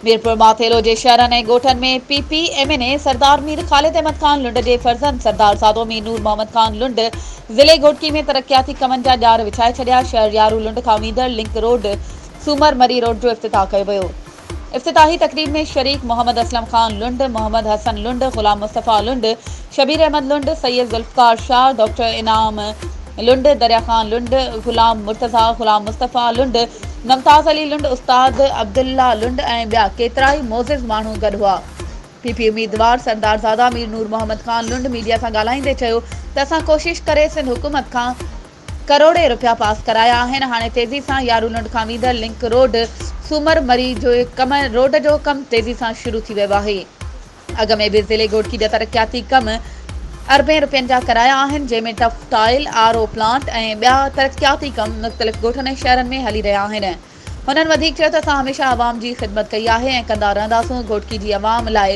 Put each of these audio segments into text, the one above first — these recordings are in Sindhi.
ميرپور ماٿيلو جي شهرن ۽ ڳوٺن ۾ P P M N A Sardar Mir Khalid Ahmed Khan Lund جي فرزند سردار سادو مير نور محمد خان لنڊ ضلعي گهوٽڪي ۾ ترقياتي ڪمن جا ڄار وڇائي ڇڏيا شهر يارو لنڊ کان ويندڙ لنڪ روڊ سومر مري روڊ جو افتتاح ڪيو ويو افتتاحي تقريب ۾ شريڪ محمد اسلم خان لنڊ، محمد حسن لنڊ، غلام مصطفيٰ لنڊ، شبير احمد لنڊ، سيد ذوالفقار شاهه، ڊاڪٽر انعام لنڊ، دريا خان لنڊ، غلام مرتضيٰ، غلام مصطفيٰ لنڊ، ممتاز علي لنڊ، استاد عبدالله لنڊ ۽ ٻيا ڪيترائي معزز ماڻهو گڏ هئا. پي پي اميدوار سردارزاده مير نور محمد خان لنڊ ميڊيا سان ڳالهائيندي چيو ته اسان ڪوشش ڪري سنڌ حڪومت کان ڪروڙين رپيا پاس ڪرايا آهن هاڻي تيزي سان يارونڊ کان ويندڙ لنڪ روڊ سومر مري جو ڪم روڊ جو ڪم تيزي سان شروع ٿي ويو آهي اڳ ۾ به ضلعي گهوٽڪي جا ترقياتي ڪم اربين رپين جا ڪرايا آهن جنهن ۾ tuff tile R O plant ۽ ٻيا ترقياتي ڪم مختلف گهوٽن ۽ شهرن ۾ هلي رهيا آهن هنن وڌيڪ چيو ته اسان هميشه عوام جي خدمت ڪئي آهي ۽ ڪندا رهنداسون، گهوٽڪي جي عوام لاء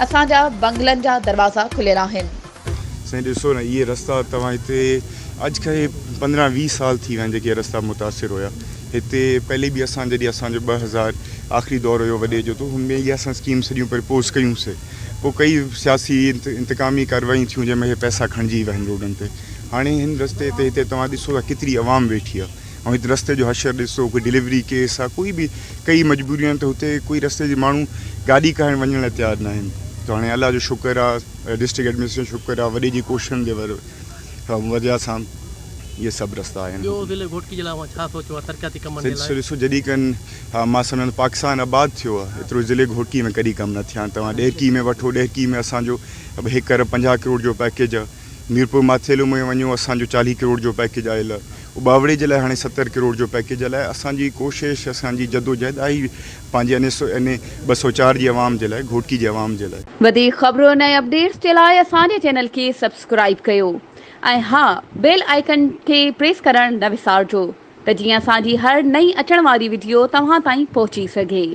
اسان جا بنگلن جا دروازا کليل آهن. سائين ڏسو نه اهي رستا توهان هتي اڄ کان پندرهن ويهه سال ٿي ويا آهن جيڪي رستا متاثر هيا هتي پهلي به اسان جڏهن اسان جو ٻه هزار آخري دور هيو وڏي جو تو هن ۾ اهي اسان اسڪيم سڄيون پرپوز ڪيون سي پو ڪئي سياسي انتقامي ڪاروايون ٿيون جنهن ۾ اهي پئسا کڻجي ويا آهن روڊن تي هاڻي هن رستي تي هتي توهان ڏسو ٿا ڪيتري عوام ويٺي آهي. ۽ هت رستي جو حشر ڏسو ڪوئي ڊليوري ڪيس آ ڪوئي به ڪئي مجبوريون آهن ته هتي ڪوئي رستي جي ماڻهو گاڏي ڪاهڻ وڃڻ لاء تيار نه آهن ته هاڻي الله جو شڪر آ ڊسٽرڪٽ ايڊمنسٽريشن جو شڪر آ وڏي جي ڪوششن جي وجه سان اهي سڀ رستا آهن. ٻيو ضلعي گهوٽڪي جي لاء اوهان ڇا سوچيو آ ترقياتي ڪمن جي لاء؟ ڏسو جڏهن کان مان سمجهان ٿو پاڪستان آباد ٿيو آ ايترو ضلعي گهوٽڪي ۾ ڪڏهن ڪم نه ٿيا آهن توهان ڏهرڪي ۾ وٺو ڏهرڪي ۾ اسان جو هڪ ارب پنجاهه ڪروڙ جو پيڪيج آ ميرپور ماٿيلو ۾ وڃو اسان جو چاليهه ڪروڙ جو پيڪيج آيل آ اٻاوڙي جي لاء هاڻي ستر ڪروڙ جو پيڪيج هلائي اسان جي ڪوشش اسان جي جدوجهد آهي پنهنجي ان ٻه سؤ چار جي عوام جي لاء گهوٽڪي جي عوام جي لاء. وڌيڪ خبرن ۽ اپڊيٽس جي لاء اسان جي چينل کي سبسڪرائيب ڪيو ۽ ها بيل آئيڪن کي پريس ڪرڻ نه وسارجو ته جيئن اسان جي هر نئين اچڻ واري وڊيو توهان تائين پهچي سگهي.